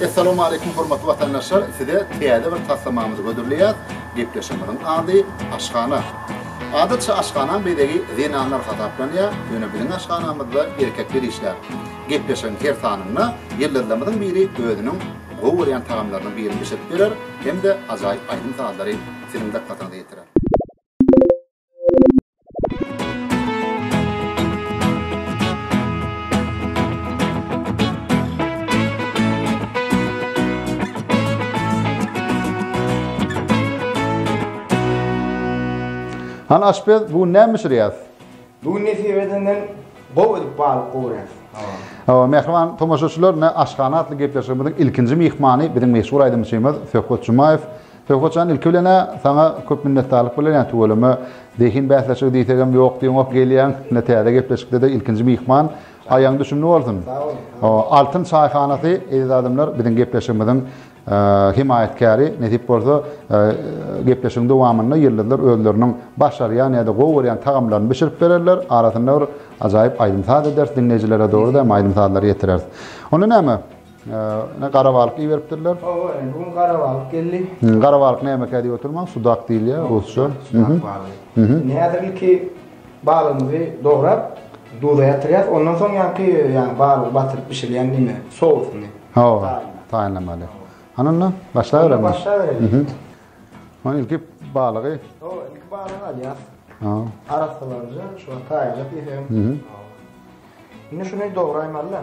Essalamu Aleýkum hormatly watandaşlar size täze bir taslamamyzy hödürleýäs gepleşigimiziň ady Aşhana Adatça aşhana bezegi zenanlar hasaplanýar ýöne biziň aşhanamyzda erkekler işlär Gepleşigiň her sanynda ýyldyzlarymyzyň biri özüniň gowy görýän tagamlarynyň birini bişirip berer hem-de ajaýyp aýdym sazlary siziň dykgatyňyza ýetirer. Han aşpez, bu gün näme bişirýäs? Bu gün nesip edenden gowy edip balyk gowurýas. Hawa, mähriban tomaşaçylar, ne aşhana atly gepleşigimiziň ilkinji myhmany biziň meşhur aýdymçymyz Söhbet Jumaýew. Söhbet jan ilki bilenä saňa köp minnetdarlyk bildirýän tüweleme zehin bäsleşigi diýsegem ýok diýoňok gelýäň ine täze gepleşikdede ilkinji myhman aýaň düşümli bolsun altyn çaýhanasy eziz adamlar biziň gepleşigimiziň hemaýatkäri nesip bolsa gepleşigiň dowamynda ýyldyzlar özleriniň başarýan ýada gowy görýän tagamlaryny bişirip bererler arasynda bir ajaýyp aýdym saz ederis diňleýjilere dogry dämi aýdym sazlary ýetireris onda näme Ine gara balyk iberipdirler. Oba, indi bu gün gara balyk geldi. Gara balyk näme kädi oturmaň? Sudak diýilýär rusça. Sudak balygy. Indi häzir ilki balygymyzy dograp, duza ýatyrýas. Ondan soň ýaňky ýaňy balygy batyryp bişirýän diýme, sousyny. Hawa, taýynlamaly. Hany onda başlaberem. Başlaberelim. Hany ilki balygy. Hawa, ilki balygy alýas. Hawa. Arassalarja, şuňa taýýarlap ýesem. Indi şuny dograýmaly-da.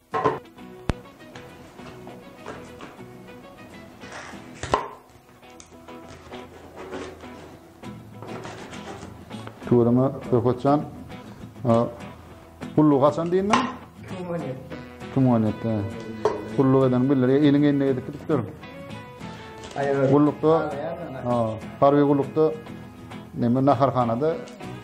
Tuweleme Rökotjan. Gullu gaçan diýin men? Tuweleme. Tuweleme. Gullu eden billeri eliň eline edip gidip dur. Gullukda, ha, harbi gullukda, neme, naharhanada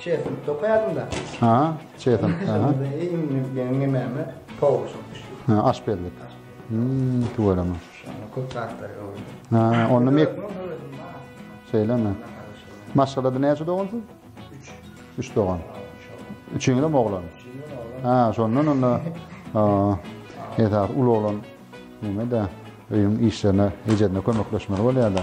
Çetin tokaýadym-da. Ha, çetin. Ha. Ýeňňe näme? Towuk şuş. Ha, aş berdik. Hmm, tuwalama. Köp zatlar ýok. Ha, onda mek. Şeýlemi? Maşgalada näçe dogansyz? 3. 3 dogan. Üçüňiz hem oglan. Ha, şondan onda esas uly oglan näme-de öýüň işlerine, ejedine kömekleşmeli bolýar-da.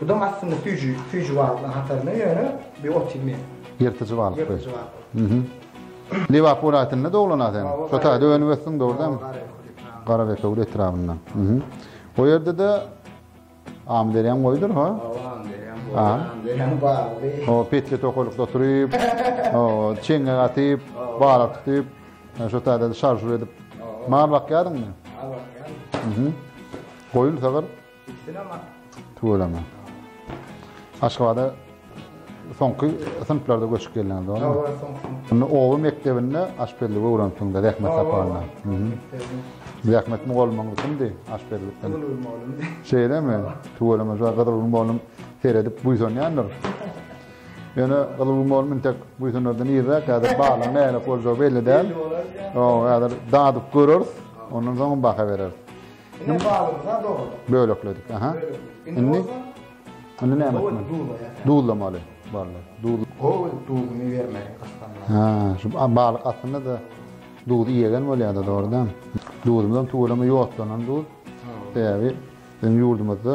Budaň aslynda süýji, süýji balyklaryň hatarynda, ýöne bu ot iýmeýär. Ýyrtyjy balyk. Ýyrtyjy balyk. Lebap welaýatynda doglan-a sen? Şo taýda önüp ösdüň, dogrudanam? Garabekewül etrabynda. O ýerde-de Amyderýaň boýudyr, ha? Hawa, Amyderýaň boýy. Amyderýaň bagly. O petli tokalykda oturyp, o çeňňek atyp, balyk tutup, şo taýda şarjur edip. Mal bakýadyňmy? Mal bakýaryn. Goýun, sygyr? Tüweleme. Aşgabada soňky synplarda göçüp geldiňiz, dogrymy? Hawa, soňky. Indi oba mekdebinde aşpezligi öwrenipsiňiz-de zähmet sapagynda. Zähmet mugallymyňyz kimdi aşpezlikde? Gyzylgül mugallymdy. Şeýlemi? Tüweleme, şu Gyzylgül mugallym seredip buýsanýandyr. Ýöne Gyzylgül mugallym intek buýsanardan irräk häzir baglaryň nähili boljagy belli däl. Belli bolar. Ýa, häzir dadyp göreris, ondan soň baha bereris. Ine balygy ha dogry. Bölekledik. Aha. Indi Indi näme etmeli? Duzlamaly. Balyk. Duz. Gowy duzuny bermeli gysganlar. Ha, şu balyk aslynda da duzy ýegen bolýar-da, dogrudan. Duzumyzam tüweleme ýodlanan duz. Sebäbi biziň ýurdumyzda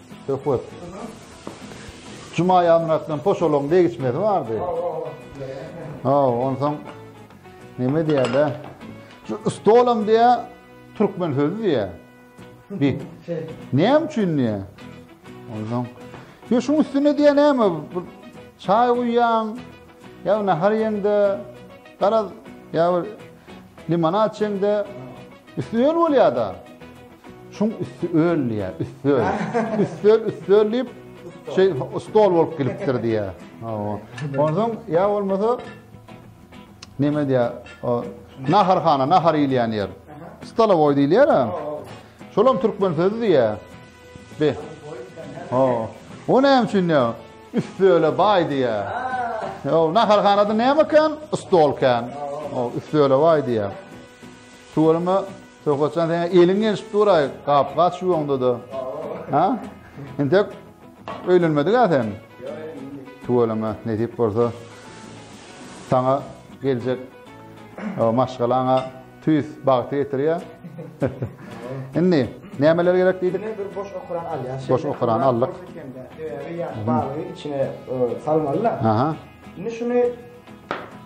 Söhbet. Juma ýamyna bilen poşolaň degişmesi bardy. Ha, onsoň neme diýýärler? Şu stolam diýýär, türkmen sözi diýýär. Bir. Näme üçin diýýär? Onsoň Yo şuň üstüne diýen näme? Bir çaý guýýaň, ýa nahar ýeňde, garaz, ýa bir limonad içeňde, üstüne bolýar-da. Şuň üsti öl diýä, üsti öl. Üsti öl, üsti öl diýip, şey, stol bolup gelipdir diýä. Ondan ya bolmasa, neme diýä, naharhana, nahar iýilýän ýer. Stola boy diýilýär ha. Şolam türkmen sözü diýä. Be. Ha. O näme üçin ya? Üsti öle bay diýä. Ya naharhanada näme kan? Stol kan. O üsti öle bay diýä. Tuwalma Söhbetjan seň eliň gelşip duraý gap-gaç ýuwaňda-da. Ha? Entek öýlenmedik-ä sen? Tüweleme, nesip bolsa saňa geljek maşgalaňa tüýs bagty getirýär. Indi nämeler gerek diýdik? Ine bir boş okuran alýar. Boş okuran aldyk. Sebäbi ýa balygy içine salmaly-da. Aha. Indi şuny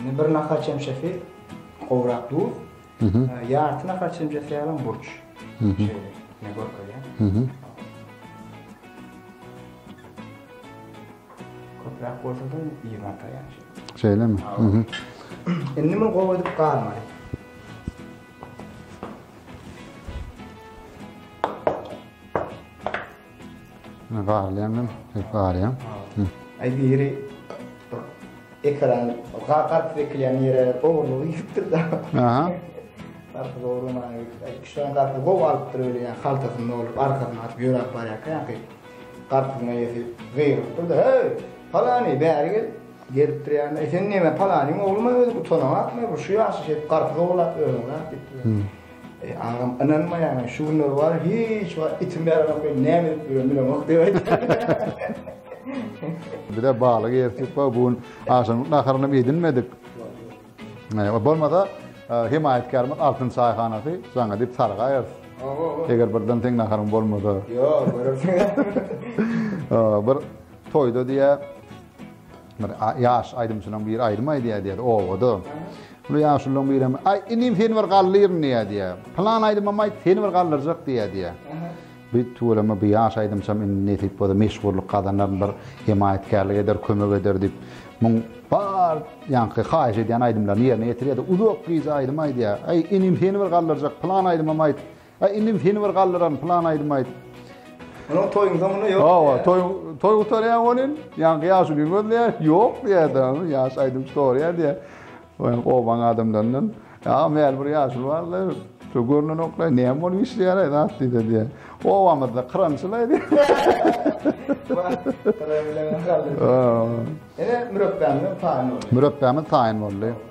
Indi bir nahar çemçesi gowrak duz, ýarty nahar çemçesi ýalam burç. Ne görkezýär? Köpräk bolsa-da iýip ataýar. Şeýlemi? Indi muny gowy edip garmaly. Barlaýan hem barýan. Aý biri ekran garp bekleýän ýere gowurlygy ýitipdir da. Aha. Garp gowurlamagy. Şoň garp gow alypdyr öýle ýa haltasynda bolup arkasyna atyp ýöräp barýarka ýa-da garpyň eýesi gygyrypdyr da, "Heý, palany bäri gel." Gelipdir ýa-da, "Sen näme palanyň oglumy özi utanýaňmy? Bu şu ýaşy şeýdip garp gowurlap ýörüňmi?" diýipdir. Agam ynanmaýaňa şu günler bar hiç wagt itim ýaramok men näme edip ýörün bilemok diýip aýtýar. Bize baly gersip bu gün agşamlyk naharyny hem edinmedik. Bolmasa himaýatkarymyz Altyn çaýhanasy jaňa diýip sargaýar. Eger birden teň naharyň bolmasa. Ýok, görürsiň. Bir toýda diýä Bir ýaş aýdymçylaň biri aýdym aýdýar diýýär obada. Şol ýaşullaň birem, Aý, inim seni bir galdyryn diýýär diýýär. Pylan aýdymam aýt, seni bir galdyrjak diýýär diýýär. Bu tüweleme bu ýaş aýdymçam indi nesip bolsa meşhurlyk gazanaryn, bir hemaýatkärlik eder, kömek eder diýip, muň bar ýaňky haýyş edýän aýdymlaryny ýerine ýetirýär-de, uzak gije aýdym aýdýar. Aý, inim seni bir galdyrjak, pylan aýdymam aýt, Aý inim seni bir galdyran plan aýdym aýdyp. Munuň toýuň soňunda ýok. Hawa, toý toý gutarýar welin, ýaňky ýaşuny gözleýär, ýok diýýärdi, ýaş aýdymçy sorýar diýýär. Oýan obaň adamlaryndan, ýa meýl bir ýaşuly bardy, şu görnenoklar näme bolup işleýär aý zat diýdi diýýär. Obamyzda krançyl aý diýýär. Ene mürepbämiz taýyn boldy. Mürepbämiz taýyn boldy.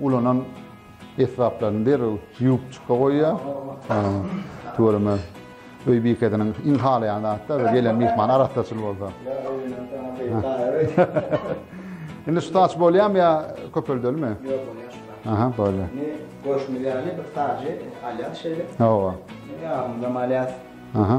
Ulanan esbaplaryny derrew ýuwup çyka goýýar. Tüweleme öý bikesiniň iň halaýan zady-da bir gelen myhman arassaçyl bolsa. Indi şu saç bolýamy ýa köpeldelimi? Ýok, ony ýaşyldap. Aha, bolýar. Indi görşümiz ýaly bir sajy alýas şeýle. Hawa. Ýagymyzam alýas. Aha.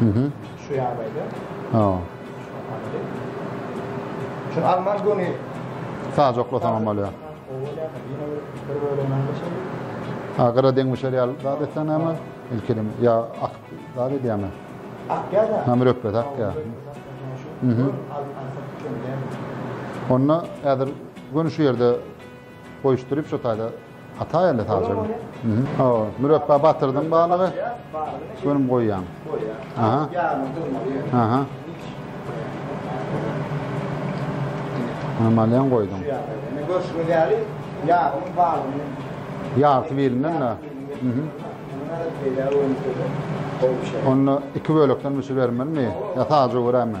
Şu ýagdaýda. Ha. Şu alman göni sajaklasaňam bolýar. Ha, gara deňmişer ýaly zat etsen näme? Ilkilim ýa ak zat edýärmi? Ak ýa-da. Ha, mürepbet ak ýa. Mhm. Onda häzir göni şu ýerde goýuşdyryp şu taýda Hata ýerli saljagy. Hawa, mürepbe batyrdyň balygy. Şuny goýýaň. Aha. Aha. Normalýan goýdum. Ýa, görşüňiz ýaly, ýagyň balygyny. Ýarty birinden de. Mhm. Onda iki bölekden bişirip bermelimi? Ýa sadja görermi?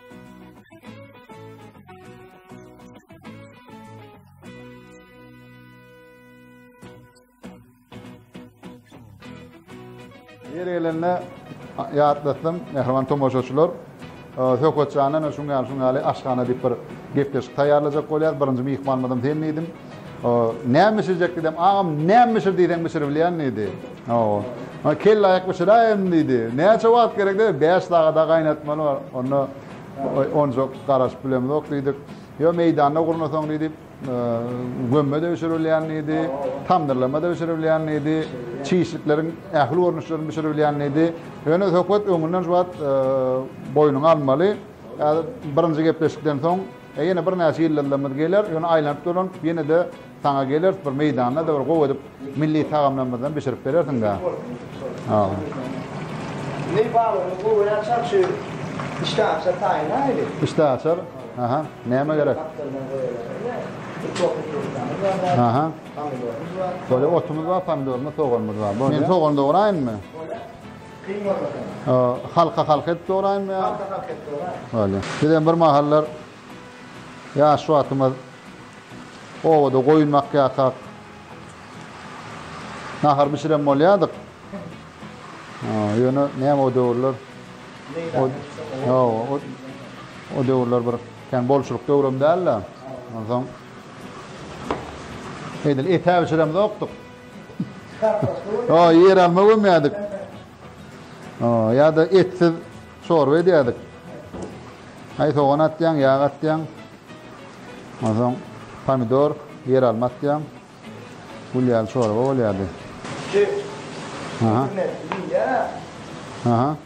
Ýeri gelende ýatlatsam, mähriban tomaşaçylar, e, Söhbetjanyň şu ýaly şu ýaly aşhana diýip bir gepleşik taýýarlajak bolýar. Birinji myhmanymyzam sen diýdim. O, näme bişirjek diýdim. Agam, näme bişir diýseň bişirip bilýän diýdi. Hawa. Onda kellaýak bişiräýerin diýdi. Näçe wagt gerek diýdim. Bäş sagada gaýnatmaly bar. Onda onja garaşyp bilemzok diýdik. Ýok, meýdanda gurnasaň diýdi, gömme-de bişirip bilýän diýdi, tamdyrlama-da bişirip bilýän diýdi. Çişlikleriň ähli görnüşlerini bişirip bilýän diýdi. Ýöne söhbet öňünden şu wagt boýnuňa almaly. Häzir birinji gepleşikden soň E ýene birnäçe ýyllarymyz geler, ýöne aýlanyp dolanyp ýene-de saňa geleris, bir meýdanda-da bir gowy edip milli tagamlarymyzdan bişirip berersiň-dä. Milli baglarymyz gowy bolýar, çar şu işdäaçar taýynlaýyly. Işdäaçar? Aha, näme gerek? Gapdaldan goýaýyl. Uçok uçuryslamyz bar däl. Aha. Pomidorymyz bar. Bolýar, otumyz bar, pomidorymyz, soganymyz bar. Bolýar. Men sogany dograýynmy? Bolýar. Kyn bolmasam. Halka halka edip dograýmy ýa? Halka halka edip dograýmy. Bolýa. Bizem bir mahallar ýaş wagtymyz obada goýun bakýarkak nahar bişiren bolýardyk. Ýöne näme o döwürler? Ýok, o döwürler bir kän bolçulyk döwrem däl-de. Onsoň edil etä bişiremzokdyk. Ýa ýer alma gömýärdik. Ýa-da etsiz çorba edýärdik. Aý sogan atýaň, ýag atýaň. Onsoň pomidor, ýer alma atýaň. Gül ýaly çorba bolýardy. Aha. Aha.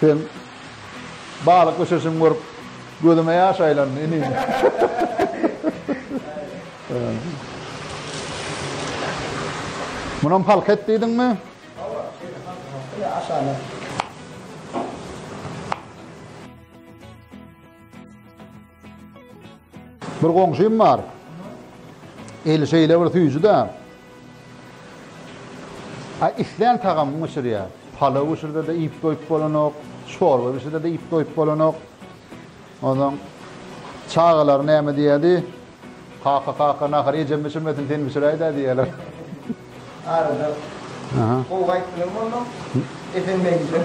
Sen balyk bişirişiňi görüp, gözüme ýaş aýlandy, inim. Munam halk et diýdiňmi? Aşagyna. Bir goňşym bar. Eli şeýle bir süýji-de. A islän tagamyny bişirýär. Palaw bişirse-de iýip doýup bolanok, çorba bişirse-de iýip doýup bolanok. Ondan çagalar näme diýýärdi? Kaka, kaka, nahary ejem bişirmesin, sen bişiräý-dä diýýärler. Arada. Aha. Gowy gaýyp bilen bolma. Esen meňli.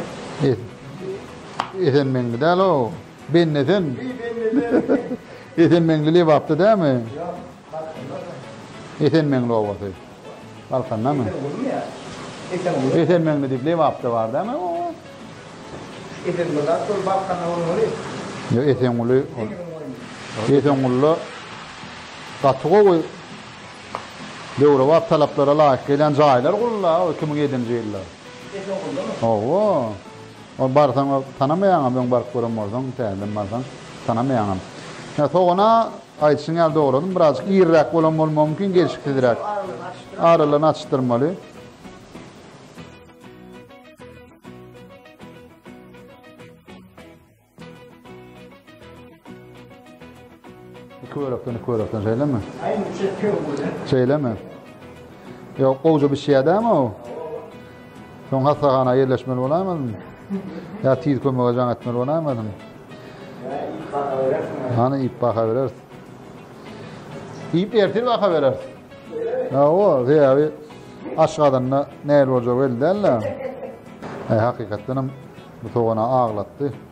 Esen meňli däl-ow. Bende sen. Esenmeňli Lebapda dämi? Ýok, Balkandada. Esenmeňli obasy. Balkandamy? Esenmeňli. Esenmeňli diýip Lebapda bar dämi? Esenmeňli ol Balkanda bolmaly. Ýok, Esenmeňli. Esenmeňli. Gaty gowy. Döwre wagt talaplara laýyk gelen jaýlar gurulýar 2007-nji ýylda. Esenmeňli. Hawa. Ol barsaň tanamaýaňam öň baryp gören bolsaň täzeden barsaň tanamaýaňam. Ýa sogana aýdyşyň ýaly dogradym birazjyk iriräk bolan bolmagy mümkin gelşiksizräk. Aralygyny açdyrmaly. Iki bölekden iki bölekden şeýlemi? Aýyň üçe iki bölek. Şeýlemi? Ýok, gowja bişýädämi o? Soň hassahana ýerleşmeli bolaýmalymy? Ýa tiz kömege jaň etmeli bolaýmalymy? Hany iýip baha bereris. Iýip ertir baha bereris. Hawa, sebäbi aç gadanda näl boljagy belli däl-le. Hakykatdan hem bu sogana aglatdy.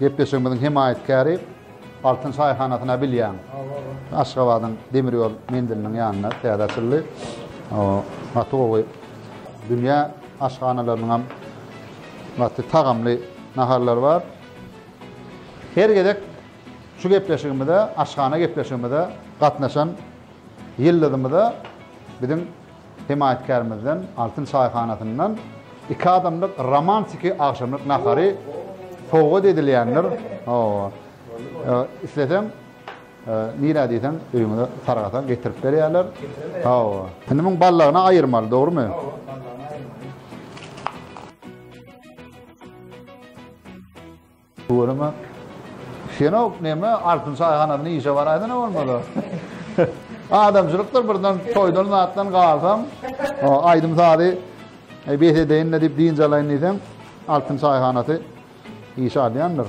Gepleşigimiziň hemaýatkäri Altyn çaýhanasyny-a bilýäň. Aşgabadyň demir ýol menziliniň ýanynda täze açyldy. Gaty gowy. Dünýä aşhanalarynyňam gaty tagamly naharlary bar. Her gezek şu gepleşigimize, aşhana gepleşigimize gatnaşan ýyldyzymyza biziň Hemaýatkärimizden Altyn çaýhanasyndan iki adamlyk romantiki agşamlyk nahary sowgat edilýändir. Hawa. Isleseň, nirä diýseň, öýüňize sargasaň getirip berýärler. Hawa. Indi muň ballagyny aýyrmaly, dogrymy? Hawa, ballagyny aýyrmaly. Görüme. Şenok neme altyn çaýhanasynda işe baraýdyna bolmasa. Adamçylykdyr birden toýdan zatdan galsam, aýdym sazy e, bes edeýin diýip dynç alaýyn diýsem, altyn çaýhanasy işe alýandyr.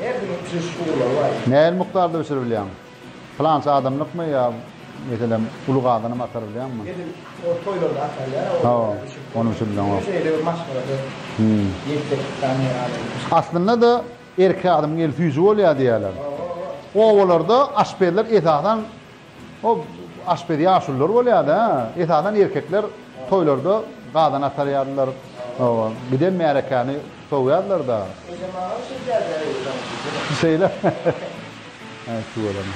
Her biriň uçuş ugurlary bar diýip. Nähili mukdarda uçuryp bilýäň? Pylança adamlykmy ýa meselem uly gazanam atar bilýäňmi? Edil o toýlarda atarlar a Hawa, ony uçuryp bilýäňok. Şeýle bir maşgalada ýetjeklik zady ýok adamda. Aslynda-da erkek adamyň eli süýji bolýar diýýärler. Obalarda aşpezler esasan Ol aşpez ýaşulylar bolýardy. Esasan erkekler toýlarda gazan atarýardylar. Giden märekäni sowýardylar-da. Ejem agam şeýdýärdi-ä öýdäki. Şeýle. Äý tüweleme.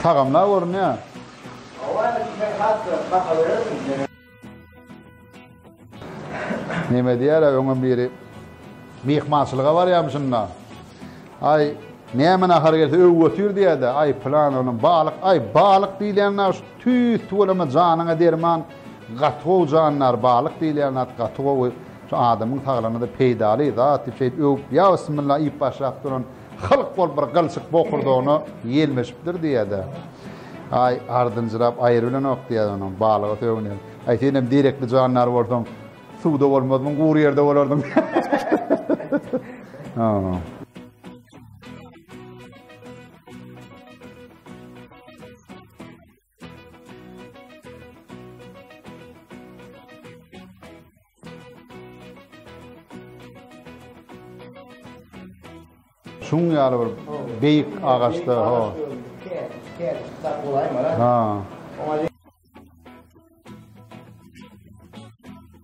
Tagamlar görünýär. Hawa, indi sen has-da baha berersiň. Neme diýýär-ä öňem biri myhmançylyga barýamyşyn-da. Aý, näme nahar gelse öw götür diýýär-de, aý pylan onuň balyk, aý balyk diýilýän zat şu tüýs tüweleme janyňa derman, gaty gowy jandar balyk diýilýän zat gaty gowy, şu adamyň saglygyna-da peýdaly zat diýip şeýdip öwüp, ýa bismilla iýip başlap duran. Halk bolup bir gylçyk bokurdagyna ýelmeşipdir diýýär-de, Aý, ardynjyrap aýry bilenok diýýär onuň, balyga sögünýär. Aý, senem derekli jandar bolsaň, suwda bolmazmyň, gury ýerde bolardyň. Hä. Şun ýaly bir beýik agaçda ha. Ha.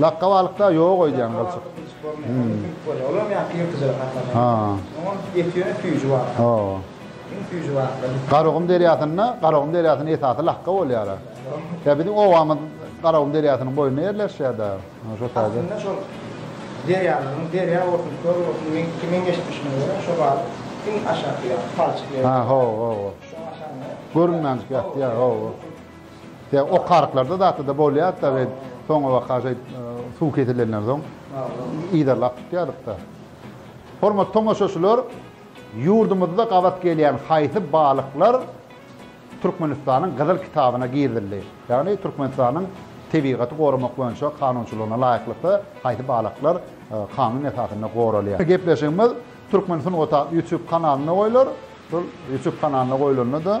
Lakga balykda ýok öýdýän gylçyk. Garagum derýasynda, Garagum derýasynyň esasy lakga bolýar. Ýa biziň obamyz Garagum derýasynyň boýunda ýerleşýär da. Şo taýda. Aslynda şol derýalaryň, derýa bolsun, köl bolsun, men kimin geçmişine görä şo balyk iň aşakda ýa palçyk ýerde. Ha, ho, ho. Görünmänjik ýatýar, ho. Ýa okaryklarda zatda-da bolýar-da we soňabaka şeýt suw kesilenden soň yzarlap tutýardyk-da. Hormatly tomaşaçylar, ýurdumyzda gabat gelýän haýsy balyklar Türkmenistanyň Gyzyl kitabyna girizildi? Ýagny Türkmenistanyň tebigaty goramak boýunça kanunçylygyna laýyklykda haýsy balyklar kanun esasynda goralýar? Gepleşigimiz Türkmen sungat atly YouTube kanalynda goýlar. Şol YouTube kanalynda goýlanda-da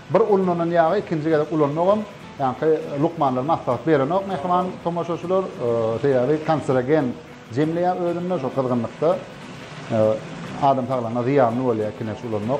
Bir ulnanan ýagy ikinji gezek ulanmagam ýaňky lukmanlar maslahat berenok mähriban tomaşaçylar, sebäbi kanserogen jemleýär özünde şo gyzgynlykda adam saglygyna zyýanly bolýar ikinji ulanmak.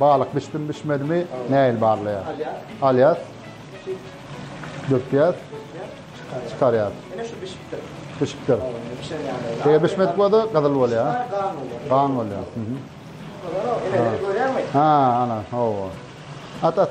Balyk bişdimi bişmedimi näil barlaýas. Alýas. Dökýäs. Çykarýas. Ine şu bişipdir. Bişipdir. Eger bişmedik bolsa gyzyl bolýar. Gan bolýar. Ha, ana, hawa. At at.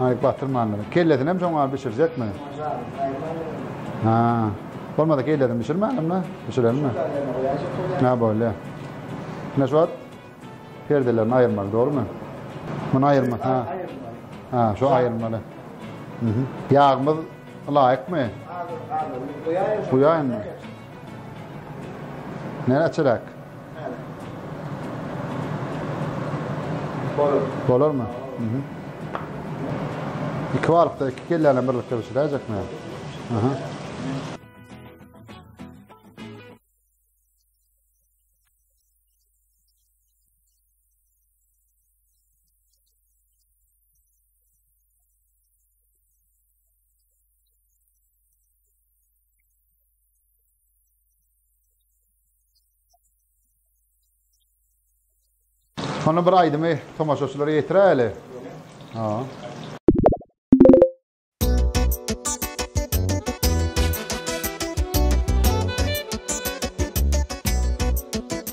Aý batyrmandyr. Kellesinem şoň alyp bişirjekmi? Ha. Bolmasa kellesini bişirmälimmi? Bişirelimmi? Ne bolýa? Ne şu wagt perdelerini aýyrmaly, dogrumy? Muny aýyrma, ha. Ha, şu aýyrmaly. Mhm. Ýagmyz laýykmy? Goýaýynmy? Nere çörek? Bolar. Bolar mı? Hı hı. İki varlık da iki kellene birlikte pişirecek mi? Hı hı. Şony bir aýdymy tomaşaçylara ýetiräýeli. Ha.